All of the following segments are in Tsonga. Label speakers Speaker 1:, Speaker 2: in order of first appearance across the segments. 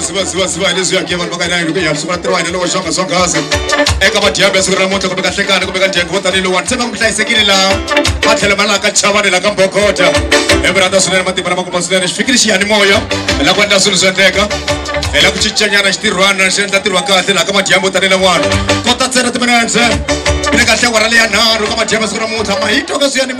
Speaker 1: zivazivaziva leswi yake vanhu va ka nayini ku ya sungula ntirho wa hina lowo xonga swonghasi eka vadiyambe siku ra namuntlha kumbe ka hlekani kumbe ka ndyangu vo tanihi lowani se va ku hlayisekile laha va tlhela va laha ka chavani laha ka mbokota emirhandza swinene matimba lama kuma swinene xi fikile xiyanimoya hi la ku endla swilo swi endleka hi la ku cincanyana xitirhwana xi endla ntirho wa kahle laha ka madiyambe vo tanihi lawani kota ntsena timinetse ni kahle wara leya nharhu ka madiyambe siku ra namuntlha mahito ka swiyanimoya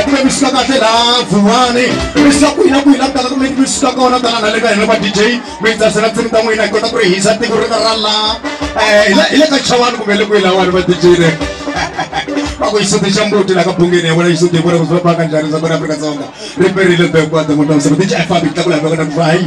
Speaker 1: ekule mi suka kahle laha vuwani mi suka kwihina kwihina ku tala kumbe mi suka kona tala na le ka hina va dj mi hi tsasela ntsimi ta n'wina hi kota ku ri hisa tiko ri ra laha um hi le ka chawani kumbe le kwihi lawani va dj le va ku xisuti xa mbuti laha ka bungeni ya vona xisuti hi vona ku swi va paka njhani swa kona afrika dzonga ri perile bekwata n'wina misava dj i fambi tlakula hi vekona ku va hayi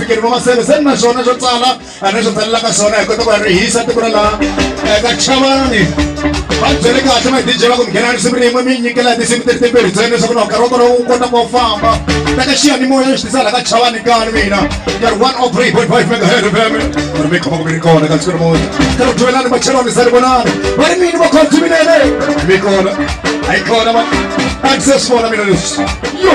Speaker 1: fikeriwa maseve se ni na swona swo tsala a ni swi tsalelaka swona hi kota ku ya rihisa tiko ra laha eka chavani va byele kahle ma dj va ku nghena risimu rin'we mi nyikela tinsimu ti ri timbirhi ntsena leswaku na nkarhi wa kona wu kota ku famba teka xiyanimoya yo xi tisa laha ka chavani kani mina ya ri one o oh three point five megahead fm ri mi khoma ku mi ri kona ka siku namuntlha ka ri duvelani machelwani sa ri vonani va ri mini vakhodziminene mi kona a yi kona ma a ndzi se swi vona mina leswi yo